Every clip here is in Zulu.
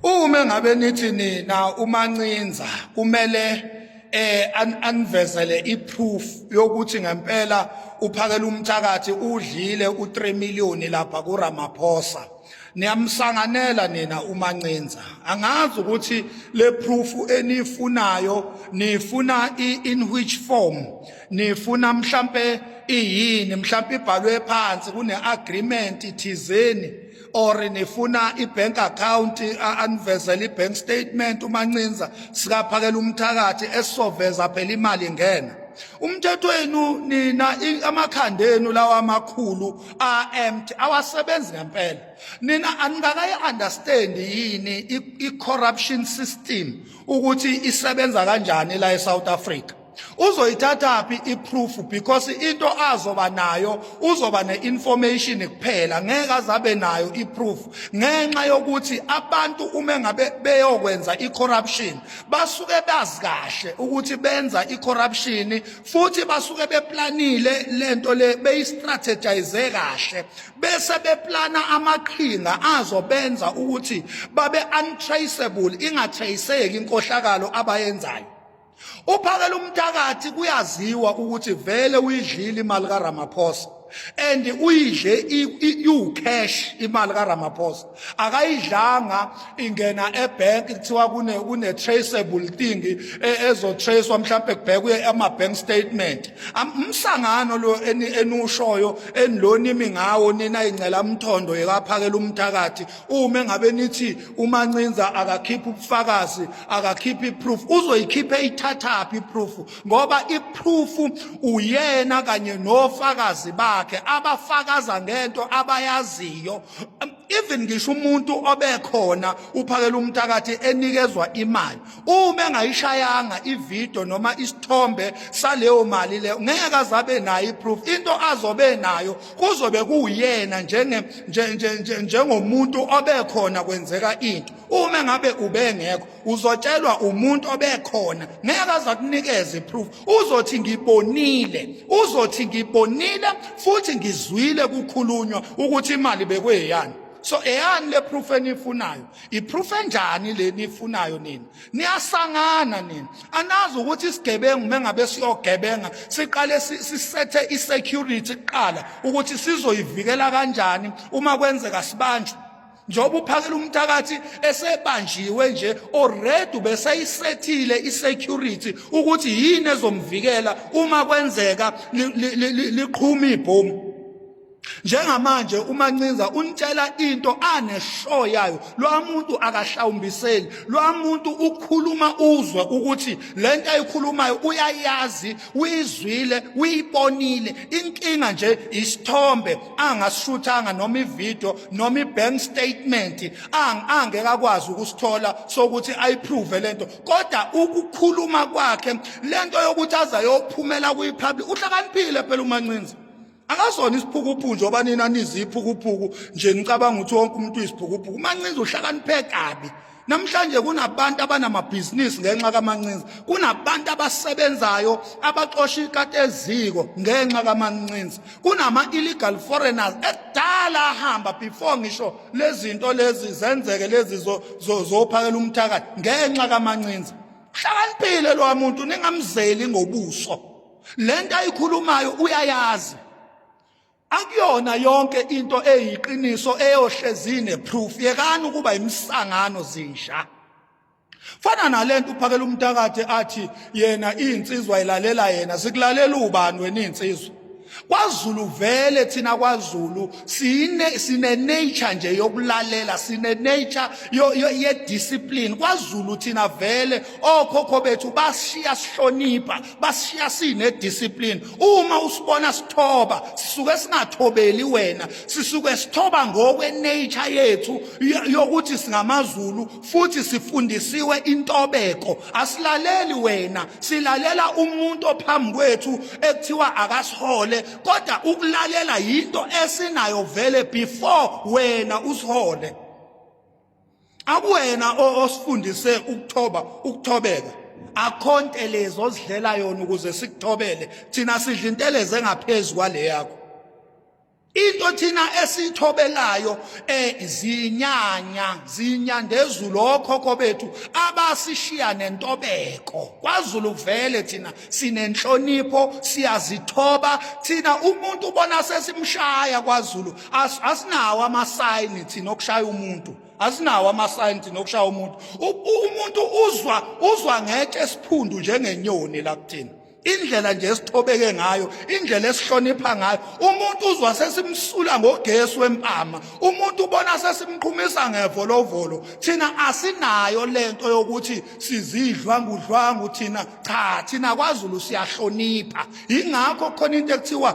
Uma ngabe nithi nina umancinza kumele eh anivezele iproof yokuthi ngempela uphakela umthakathi udlile u3 million lapha kuRamaphosa niyamsanganela nina umancinza angazi ukuthi le proof enifunayo nifuna in which form nifuna mhlambe iyini mhlambe ibhalwe phansi kune agreement ithizeni or nifuna ibank account anivezela ibank statement umancinza sikaphakela umthakathi esizoveza phela imali ngena umthetho wenu nina amakhanda enu lawa amakhulu amt awasebenzi ngempela nina aningakayi understand yini i corruption system ukuthi isebenza kanjani la eSouth Africa uzoyithathaphi iproof because into azoba nayo uzoba neinformation kuphela ngeke azabe nayo iproof ngenxa yokuthi abantu uma ngabe beyokwenza icorruption basuke bazi kahle ukuthi benza icorruption futhi basuke beplanile lento le beyistrategize kahle bese beplana amaqhinga azobenza ukuthi babe untraceable ingatraceki inkohlakalo abayenzayo uphakela umthakathi kuyaziwa ukuthi vele uyidlile imali kaRamaphosa and uyidle iwucash imali kaRamaphosa akayidlanga ingena ebank kuthiwa kune kune traceable thing e, ezo tracewa mhlawumbe kubhekwe ama bank statement umsangano lo enushoyo enilonimi ngawo nina ingcela umthondo yekaphakela umthakathi uma engabe nithi umancinza akakhipha ubufakazi akakhipha iproof uzoyikhipha eyithathaphi iproof ngoba iproof uyena kanye nofakazi bakhe abafakaza ngento abayaziyo even ngisho umuntu obekhona uphakela umthakathi enikezwa imali uma engayishayanga ivideo noma isithombe saleyo mali leyo ngeke azabe nayo iproof into azobe nayo kuzobe kuwuyena njenge njengomuntu obekhona kwenzeka into uma ngabe ubengekho uzotshelwa umuntu obekhona ngeke azakunikeza iproof uzothi ngibonile uzothi ngibonile futhi ngizwile kukhulunywa ukuthi imali bekweyani so eyani le proof enifunayo iproof enjani le nifunayo nina niyasangana nina anazi ukuthi isigebengu mengabe siyogebenga siqale sisethe isecurity kuqala ukuthi sizoyivikela kanjani uma kwenzeka sibanjwe njengoba uphakela umthakathi esebanjiwe nje already beseyisethile isecurity ukuthi yini ezomvikela uma kwenzeka liqhuma ibhomu njengamanje umancinza unitshela into aneshow yayo lo muntu akahlawumbiseli lo muntu ukhuluma uzwe ukuthi le nto ayikhulumayo uyayazi uyizwile uyibonile inkinga nje isithombe angasishuthanga noma ivideo noma ibank statement angeke akwazi ukusithola sokuthi ayiprove le nto kodwa ukukhuluma kwakhe le nto yokuthi azayophumela kwipublic uhlakaniphile phela umancinza akasona isiphukuphuku njengoba nina niziphukuphuku nje nicabanga ukuthi wonke umuntu uyisiphukuphuku umancinza uhlakaniphe kabi namhlanje kunabantu abanamabhizinisi ngenxa kamancinza kunabantu abasebenzayo abaxosha ikati eziko ngenxa kamancinza kunama-illegal foreigners ekudala ahamba before ngisho lezinto lezi zenzeke lezi zophakela umthakathi ngenxa kamancinza uhlakaniphile lowa muntu ningamzeli ngobuso lento ayikhulumayo uyayazi akuyona yonke into eyiqiniso eyohlezine proof yekani ukuba imisangano zinja fana nalento uphakela umntakade athi yena insizwa ilalela yena sikulalela ubani wena insizwa kwaZulu vele thina kwaZulu sine sine nature nje yokulalela sine nature yo ye discipline kwaZulu thina vele okhokho bethu bashiya sihlonipha bashiya sine discipline uma usibona sithoba sisuke singathobeli wena sisuke sithoba ngokwe nature yethu yokuthi singamaZulu futhi sifundisiwe intobeko asilaleli wena silalela umuntu ophambi kwethu ekuthiwa akasihole kodwa ukulalela yinto esinayo vele before wena usihole akuwena osifundise ukuthoba ukuthobeka akho ntelezi ozidlela yona ukuze sikuthobele thina sidla intelezi engaphezulu kwale yakho into thina esithobelayo eh zinyanya zinyandezulu okhokho bethu abasishiya nentobeko kwaZulu kuvele thina sinenhlonipho siyazithoba thina umuntu ubona sesimshaya kwaZulu As asinawo amasayini thina okushaya umuntu. Asinawo amasayini thina okushaya umuntu. Umuntu uzwa uzwa ngetshe esiphundu njengenyoni la kuthina. indlela nje esithobeke ngayo indlela esihlonipha ngayo umuntu uzwa sesimsula ngogesi wempama umuntu ubona sesimqhumisa ngevolovolo thina asinayo lento yokuthi sizidlwa ngudlwangu thina cha thina kwaZulu siyahlonipha ingakho khona into ekuthiwa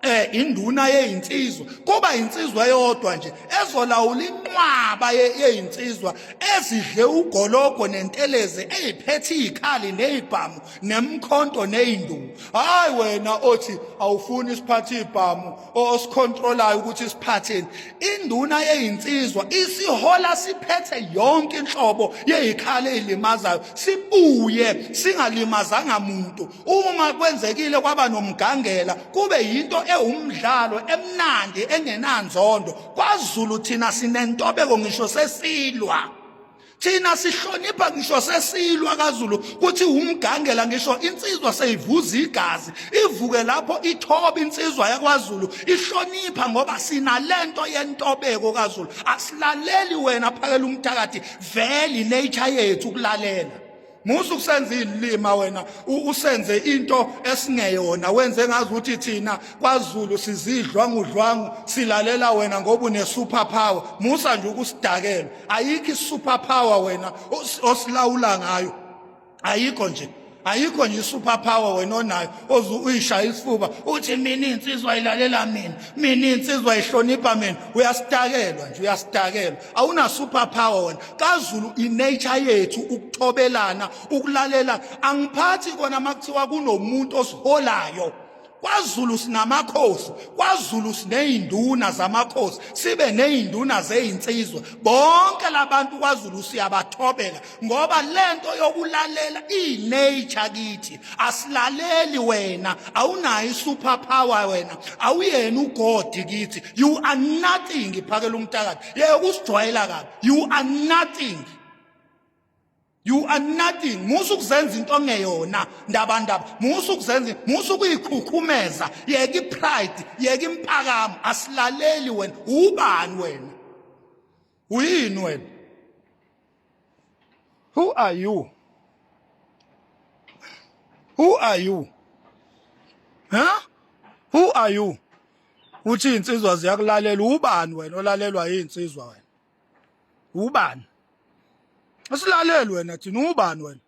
eh induna yeyinsizwa kuba insizwa eyodwa nje ezolawula inqwaba yeyinsizwa ezidle ugologo nentelezi eyiphethe izikhali nezibhamu nemkhonto nezinduku hayi wena othi awufuni isiphathe izibhamu osicontrolayo ukuthi siphatheni induna yeyinsizwa isihola siphethe yonke inhlobo yezikhali ezilimazayo sibuye singalimazanga muntu uma kwenzekile kwaba nomgangela kube yinto ewumdlalo emnandi engenanzondo kwaZulu thina sinentobeko ngisho sesilwa thina sihlonipha ngisho sesilwa kaZulu kuthi umgangela ngisho insizwa seyivuza igazi ivuke lapho ithoba insizwa yakwaZulu ihlonipha ngoba sinalento yentobeko kaZulu asilaleli wena phakela umthakathi veli nature yethu kulalela musa ukusenza ilima wena usenze into esingeyona wenze ngazi ukuthi thina kwaZulu sizidlwa ngudlwangu silalela wena ngoba une super power musa nje ukusidakela ayikho i super power wena osilawula ngayo ayikho nje ayikho nje super power wena onayo oze uyishaya isifuba uthi mina insizwa ilalela mina mina insizwa ihlonipha mina uyasitakelwa nje uyasitakelwa awuna super power wena kaZulu inature yethu ukuthobelana ukulalela angiphathi kona makuthiwa kunomuntu osiholayo kwaZulu sinamakhosi kwaZulu sineyinduna zamakhosi sibe neyinduna zezinsizwa bonke labantu kwaZulu siyabathobela ngoba lento yokulalela inature kithi asilaleli wena awunayo isuper power wena awuyena ugodi kithi you are nothing phakela umtakade yeke kusijwayela kabi you are nothing you are nothing musa ukuzenza into ongeyona ndaba ndaba musa ukuzenza musa ukuyikhukhumeza yeke ipride yeke impakamo asilaleli wena ubani wena uyini wena who are you who are you huh who are you uthi insizwa ziyakulalela ubani wena olalelwa insizwa wena ubani asilaleli wena thina ubani wena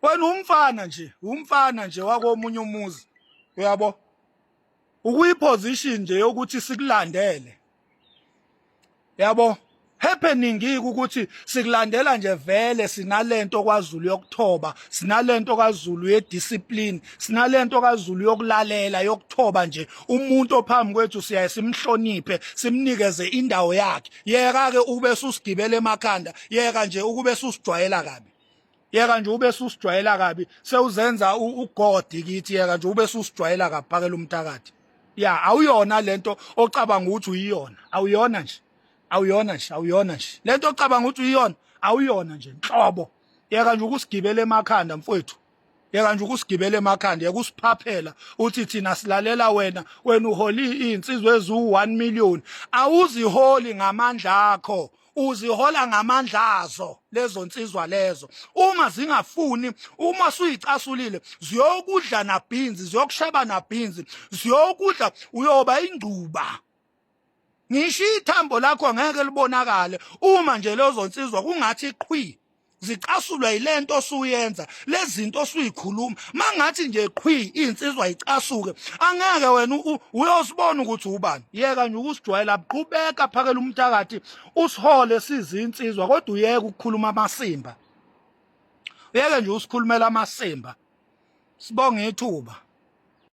wena umfana nje umfana nje wakomunye umuzi uyabo ukuyiposition nje yokuthi sikulandele yabo happening ukuthi sikulandela nje vele sinalento kwaZulu yokuthoba sinalento kaZulu ye discipline sinalento kaZulu yokulalela yokuthoba nje umuntu ophambi kwethu siyaye simhloniphe simnikeze indawo yakhe yeka ke ukube susigibele emakhanda yeka nje ukube susijwayela kabi yeka nje ube susijwayela kabi sewuzenza ugodi kithi yeka nje ube susijwayela kabi phakela umthakathi ya awuyona lento ocabanga ukuthi uyiyona awuyona nje awuyona nje awuyona nje lento ocabanga ukuthi uyiyona awuyona nje nhlobo yeka nje ukusigibela emakhanda mfowethu yeka nje ukusigibela emakhanda yeka usiphaphela uthi thina silalela wena wena uholi insizwe ezu 1 million awuziholi ngamandla akho uzihola ngamandla azo lezo nsizwa lezo uma zingafuni uma suyicasulile ziyokudla nabhinzi ziyokusheba nabhinzi ziyokudla uyoba ingcuba ngisho ithambo lakho ngeke libonakale uma nje lezo nsizwa kungathi qhwi zicasulwa yilento osuyenza lezinto osuyikhuluma mangathi nje qhwi insizwa icasuke angeke wena uyosibona ukuthi ubani yeka nje ukusijwayela qhubeka phakela umthakathi usihole sizinsizwa kodwa uyeke ukukhuluma amasimba uyeke nje usikhulumela amasimba sibonga ithuba